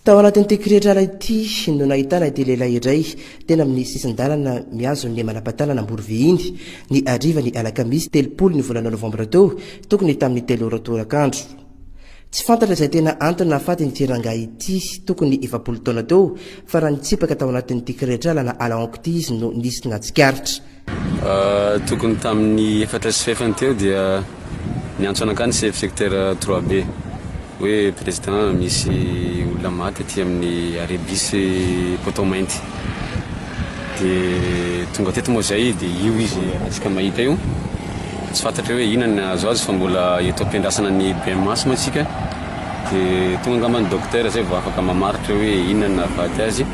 Tao anatin'ity kiretrana ity no nahitana ity lehilahy iray teny amin'ny sisin-dalana mihazo ny manam-patanana Amborovy iny ny harivan'ny alakamisy telopolo ny volana novambra teo, tokony tamin'ny telo ora torak'andro. Tsy fantatra izay tena antony nahafaty ity rangahy ity, tokony efapolo taona teo, fa raha nitsipaka tao anatin'ity kiretrailana à la honko ity izy no nisy nahatsikaritra. Tokony tamin'ny efatra sy fahefany teo dia niantso anakahy ny sefo secteur trois B hoe président misy olona maty aty amin'ny arrêt bus Potomainty. Dia tonga teto moa izay dia io izy antsika mahita io. Tsy fantatra hoe inona ny nahazo azy fa mbola eto am-piandrasana ny BMH moa isika. Dia tonga angamba ny dokotera izay vao afaka mamaritra hoe inona no nahafaty azy.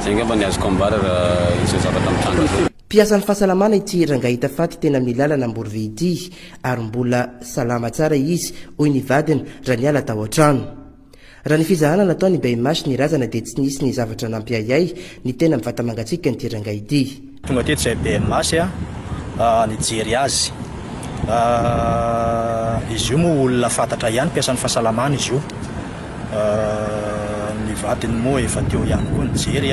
Izay angamba ny azoko ambara raha izao zavatra mitranga izao. Mpiasan'ny fahasalamana ity rangahy hita faty teny amin'ny lalana Amborovihy ity ary mbola salama tsara izy, hoy ny vadiny raha niala tao an-trano. Raha ny fizahana nataon'i Beymash ny razana dia tsy nisy ny zavatra nampiahiahy ny tena mivata-mangatsiaka an'ity rangahy ity. Tonga teto izay Beymash nijery azy. Izy io moa olona fantatra ihany, mpiasan'ny fahasalamana izy io. Ny vadiny moa efa teo ihany koa nijery.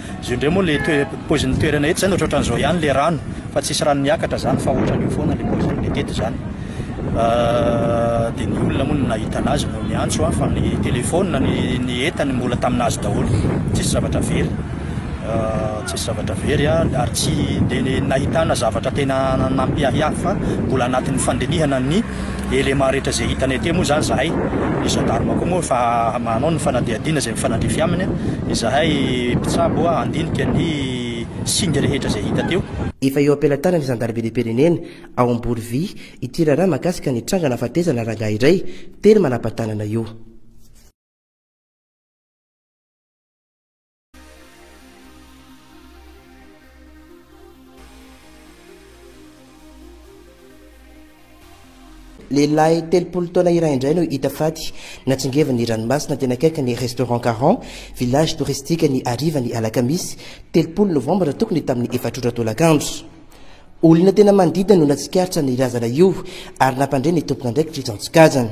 Zio ndray moa le toe- poizin'ny toerana eto zany ohatraohatran'ny zao ihany le rano fa tsisy rano miakatra zany fa ohatran'io foana le poizin'le teto zany de ny olona moa no nahita anazy no niantso an fa ny telephone ny ny entany mbola taminazy daholo tsisy zavatra very tsisy zavatra very an ary tsy de nahitana zavatra tena nampiahiahy fa mbola anatin'ny fandinihana ny élément rehetra izay hitanay aty moa zany zahay ny gendarme koa moa fa manao ny fanadihadiana izay mifanandrify aminy izahay mpitsabo handinika ny singa rehetra izay hita teo Efa eo am-pelatanan'ny zandarimberiam-pirenena ao Amborovi ity raharaha mahakasika ny tranga nahafatesana rangahy iray teny Manampatanana io. Lehilahy telopolo taona iray indray no hita faty natsingevin'ny ranomasina teny akaikin'ny Restaurant Caron, village touristique ny harivan'ny alakamisy telopolo novambra tokony tamin'ny efatra ora tolakandro. Olona tena manodidina no natsikaritra ny razana io ary nampandre ny tompon'andraikitra izy antsokajana.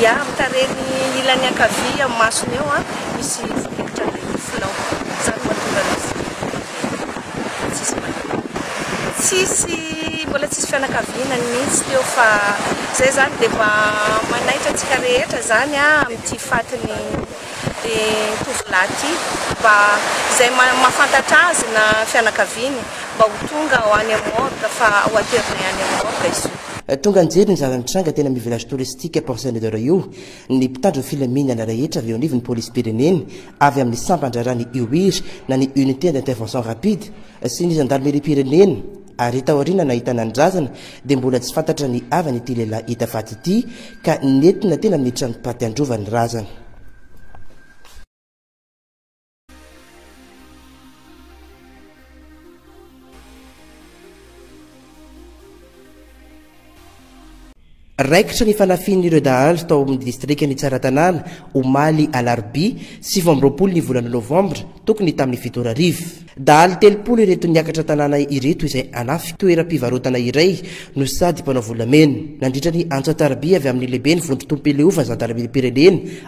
Ia, amin'ny tarehiny ilany ankavia amin'ny masony eo misy fototra be nifinao. Izany no mahatonga an'izy ireo tsisy manana. Tsisy, mbola tsisy fianakaviana mihitsy teo fa izay izany dia mba manaitra antsika rehetra izany amin'ity fatin'ity tovolahy ity mba izay mahafantatra azy na fianakaviany mba ho tonga ho any amin'ny morgue fa ho aterinay any amin'ny morgue izy io. Tonga nijery ny zava-nitranga teny amin'ny village touristique Port Saint-Medard io ny mpitandro ny filaminana rehetra avy eo anivon'ny polisim-pirenena, avy amin'ny sampan-draharahan'ny UIR na ny Unité d'intervention rapide, sy ny zandarimeriam-pirenena ary taoriana nahitana ny razana dia mbola tsy fantatra ny havan'ity lehilahy hita faty ity ka nentina teny amin'ny tranom-paty handrova ny razana. Raikitra ny fanafihan'ireo dahalo tao amin'ny distrikan'i Tsaratanàna, omaly alarobia sivy amby roapolo ny volana novambra, tokony tamin'ny fito ora hariva. Dahalo telopolo ireto niakatra an-tanàna ireto izay hanafy toeram-pivarotana iray no sady mpanao volamena. Nandritra ny antso an-tarobia avy amin'ny lehiben'ny vondron-tobim-pileovan-jandarimeriam-pirenena,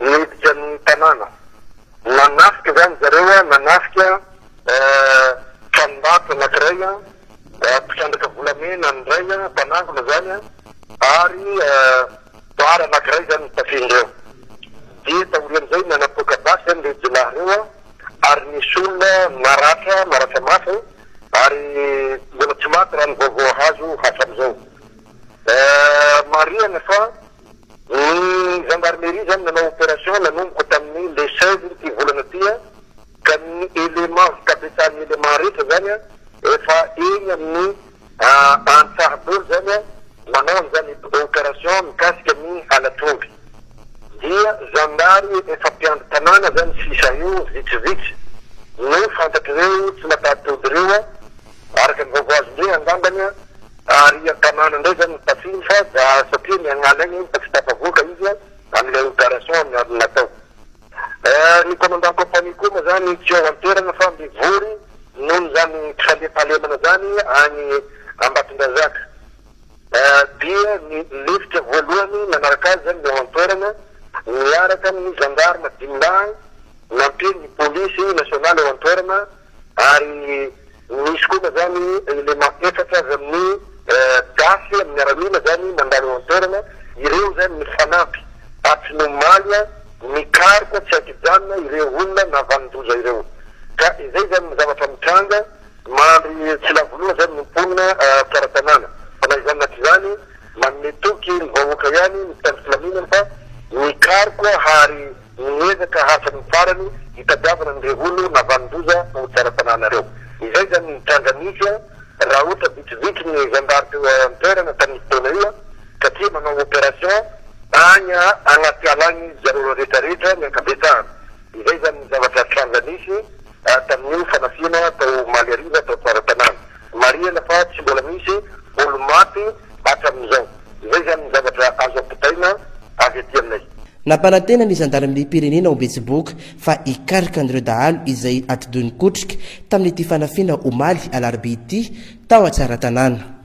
niditra ny tanàna. Nanafika izany zareo, nanafika tranombarotra anankiray, mpitrandraka volamena ny iray, mpanangona izany, ary bar anankiray izany no tafihin'ireo. Dia taorian'izay nanapoaka basy izany ireo jiolahy ireo ary nisy olona naratra, naratra mafy, ary mbola tsy maty raha ny vaovao azo hatramin'izao. Marihana fa. Ny gendarmerie izany nanao opération nanomboka tamin'ny le seize ity volana ity ka ny éléments fikabetsahan'ny éléments rehetra izany efa eny amin'ny Antsaha daholo izany manao an'izany opération mikasika ny halatr'omby. Dia zandary efa mpiandry tanàna izany sisa eo vitsivitsy no fantatr'ireo tsy mataho-tody ireo araka ny vaovao azon-dre angambany. Ary an-tanàna indray izany no tafiany fa za satria niangaly aina izy fa tsy tafavoaka izy amin'ilay operation niarony natao. Ny commandant compagnie koa moa izany tsy ao an-toerana fa mivory noho izany tsy fandriampahalemana izany any Ambatondrazaka. Dia ny lefitra voalohany nanaraka azy izany ny ao an-toerana niaraka amin'ny gendarme dimy lahy nampian'ny police nationale ao an-toerana Ary misy kosa zany élément efatra avy amin'ny gasy amin'ny miaramila zany mandalo eo an-toerana, ireo zany mifanampy atsimomaly mikaroka tsy an-kijanona ireo olona navanon-doza ireo. Ka izay zany ny zavatra mitranga, mandry tsy lavo loha zany ny mponina tsara tanàna, fa na izany na tsy izany manome toky ny vahoaka ihany ny mpitandro filaminana fa mikaroka hary. Miezaka hatrany farany hitadiavana ny reholo navanon-doza ho tsara fanahy nareo. Izay zany ny tranga nisy an! Raha ohatra vitsivitsy ny zandary teo an-toerana tamin'ny fotoana io an! Satria manao operation any anaty ala any zareo rehetra rehetra ny ankabetsahany. Izay zany ny zavatra tranga nisy tamin'io fanafihana tao Omaly hariva tao Tsaratanàna. Marihana fa tsy mbola misy olo-maty. hatramin'izao. Izay izany ny zavatra azo ampitaina avy aty aminay. Nampanantena ny zandarimeriam-pirenena ao Betsiboka fa hikaroka an'ireo dahalo izay atidohin-kotrika tamin'ity fanafihana omaly alarobia ity tao Antsaratanàna.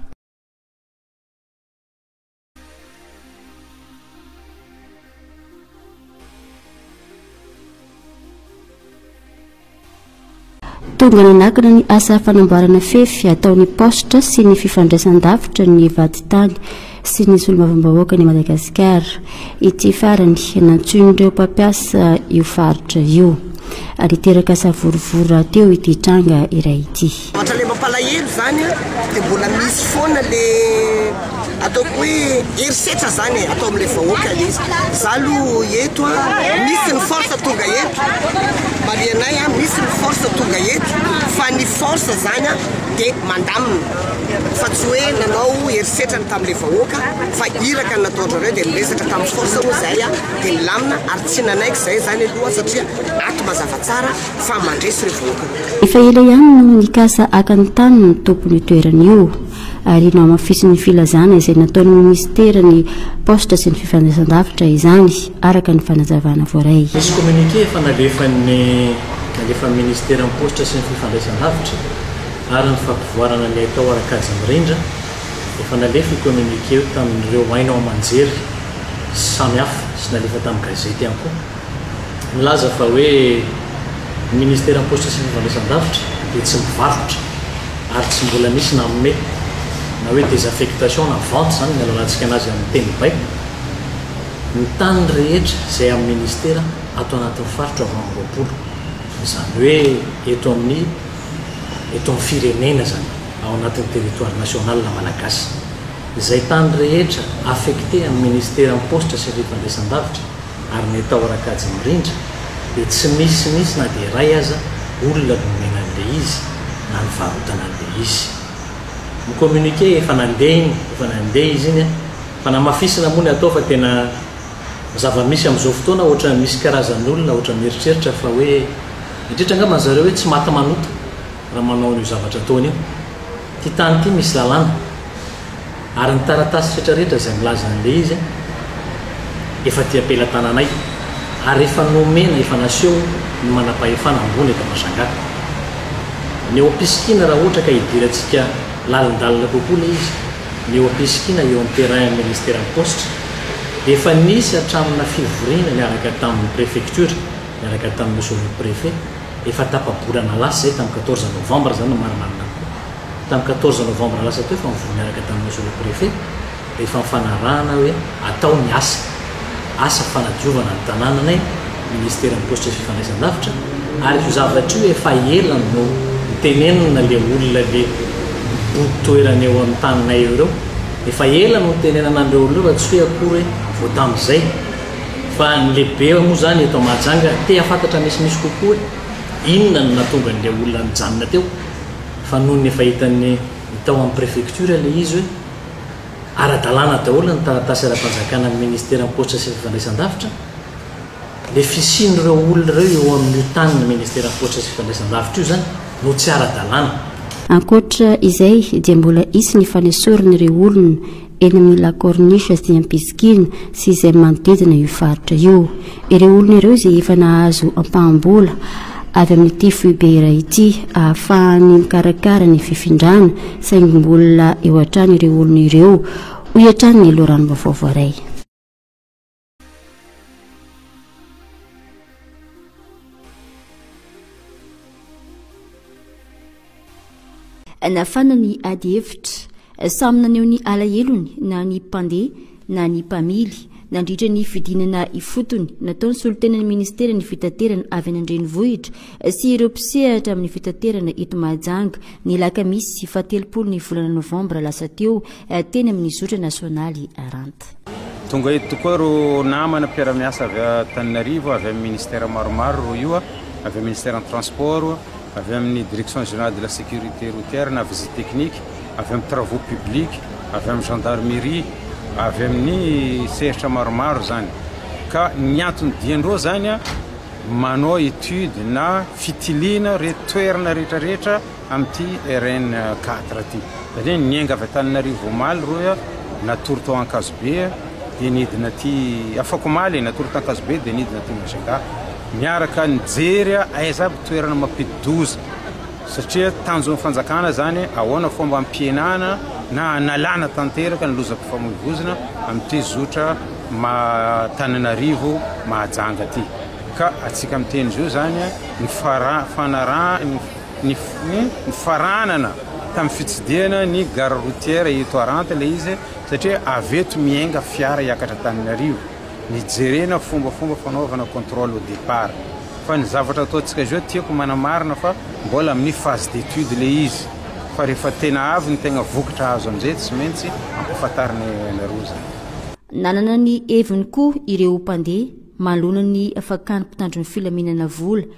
Tonga nanakana ny asa fanamboarana fefy ataon'ny paositra sy ny fifandraisan-davitra ny vadintany sy ny solombavambahoakan' i Madagasikara ity farany nantsoin'ireo mpampiasa io faritra io. Niteraka savorovoro rahateo ity tranga iray ity. Ohatra le mampalahelo zany a, de mbola misy foana le ataoko hoe herisetra zany e, atao amle vahoaka le izy, za lo eto a, misy ny force tonga eto, marianay a, misy ny force tonga eto, fa ny force zany a de mandamina, fa tsy hoe nanao herisetra ny tamle vahoaka, fa iraka ny nataondrareo de niresaka tam force oa zay a, de nilamina, ary tsy nanaiky zay zany aloha satria ato mazava tsara, fa mandresy ireo vahoaka miaramila. Efa ela ihany no nikasa haka ny tanin' ny tompon' io toerana io, ary nohamafisin' ny filazana izay nataon' ny minisitera ny Paositra sy ny Fifandraisan-davitra izany, araka ny fanazavana voaray. Nisy kominike efa nalefan' ny nalefan'ny minisitera ny Paositra sy ny Fifandraisan-davitra ary ny fampivoarana ny haitao ara-kajy mirindra, efa nalefa io kominike io tamin' ireo haino aman-jery samy hafa sy nalefa tamin'ny gazety ihany koa. milaza fa hoe ny ministeran'ny Paositra sy ny Fandraisan-davitra dia tsy mivarotra ary tsy mbola nisy nanome na hoe désaffectation na vente izany ny alalantsika anazy amin'ny teny baiko ny tany rehetra izay amin'ny ministera ato anatin'ny faritra valo amby roapolo izany hoe eto amin'ny eto amin'ny firenena izany ao anatin'ny territoire national malagasy izay tany rehetra affecté amin'ny ministeran'ny Paositra sy ny Fandraisan-davitra ary ny tao Rakajy Mirindra dia tsy misy mihitsy na dia iray aza olona nomena an'ilay izy na nivarotana an'ilay izy. Ny communiqué efa nandeha iny, efa nandeha izy iny a! Fanamafisina moa ny atao fa tena ny zava-misy amin'izao fotoana ohatran'ny misy karazan'olona ohatran'ny mieritreritra fa hoe indrindra angamba ny zareo hoe tsy maty manota raha manao an'io zavatra ataony io. Ity tany ity misy lalàna ary ny taratasy rehetra rehetra izay milaza an'ilay izy efa aty am-pelatananay ary efa nomena efa naseho ny manam-pahefana ambony eto Mashangatta. Ny ao am-pisikiana raha ohatra ka hidirantsika lalindalina kokoa ilay izy, ny eo am-pisikiana eo amin'ny terrain amin'ny Ministeran'ny Paositra dia efa nisy hatramina fivoriana niaraka tamin'ny Prefecture, niaraka tamin'ny Sous-Prefet, Efa tapa-bolana lasa izay, tamin'ny quatorze novembre izany no marimarina kokoa, tamin'ny quatorze novembre lasa teo efa nivory niaraka tamin'ny Monsieur le Préfet, dia efa nifanarahana hoe atao ny asa, asa fanadiovana ny tanànanay, Ministeran'ny Paositra sy Fifandraisandavitra, ary io zavatra io efa ela no. Notenenina ilay olona le mibodo toerana eo amin'ny taninay eo ireo, efa ela no nitenenana an'ireo olona ireo fa tsy hoe akory hoe vao tamin'izay. Fa ny lehibe moa izany eto Mahajanga te hahafantatra misimisy kokoa hoe inona no nahatonga an'ilay olona nijanona teo fa nony efa hitan'ny ny tao amin'ny préfecture ilay izy hoe ara-dalàna daholo ny taratasy ara-panjakana amin'ny ministeran'ny paositra sy fifandraisandavitra le fisian'ireo olona ireo eo amin'io tanin'ny ministeran'ny paositra sy fifandraisandavitra io izany no tsy ara-dalàna. Ankoatra izay dia mbola hisy ny fanesorana ireo olona eny amin'ny La Corniche sy Ampisikina sy izay manodidina io faritra io. Ireo olona ireo izay efa nahazo ampaham-bola avy amin'ity foibe iray ity ahafahany mikarakara ny fifindrana saingy mbola eo hatrany ireo olona ireo, hoy hatrany ny loharanom-baovao voaray. nafana ny ady hevitra samy naneho ny alahelony na ny mpandeha na ny mpamily nandritra ny fidinana ifotony nataony solontenan'ny ministeran'ny fitaterana avy any an-drenivohitra sy ireo mpisehatra amin'ny fitaterana eto mahajanga ny lakamisy fahatelopolo ny volana novambra lasa teo teny amin'ny zotra nasionaly Ranta. Tonga eto tokoa ireo namana mpiara-miasa avy Antananarivo, avy amin'ny ministère maromaro roa io, avy amin'ny ministère ny transport, avy amin'ny direction générale de la sécurité routière na visite technique, avy amin'ny travaux publics, avy amin'ny gendarmerie, avy amin'ny sehatra maromaro zany. Ka ny antony dian-dreo zany manao étude na fitiliana re toerana rehetra rehetra, amin'ity RN quatre ity satria niainga avy Antananarivo omaly roy aho natory tao Ankazobe dia nidina aty afakomaly e natory t'Ankazobe dia nidina aty Majunga miaraka nijery aho aiza aby toerana mampidi-doza satria tanjon'ny fanjakana zany ahoana fomba ampihenana na analana tanteraka ny lozam-pifamoivoizina amin'ity zotra Tananarivo Mahajanga ity ka atsika miteny zio zany ny fara fanaraha Nifaranana tamin'ny fitsidihana ny gare routière eto Haranta ilay izy satria avy eto miainga fiara hiakatra Antananarivo. Nijerena fombafomba fanaovana contrôle au départ. Fa ny zavatra ataontsika izao tiako manamarina fa mbola amin'ny phase d'étude ilay izy. Fa rehefa tena avy ny tegna vokatra azo amin'izay tsy maintsy ampahafantarina anareo izany. Nanana ny heviny koa ireo mpandeha manoloana ny fakàn'ny mpitandro ny filaminana vola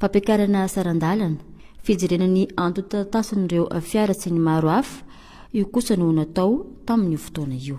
fampiakarana saran-dalana, fijerena ny antontantasin'ireo fiara sy ny maro hafa, io kosa no natao tamin'io fotoana io.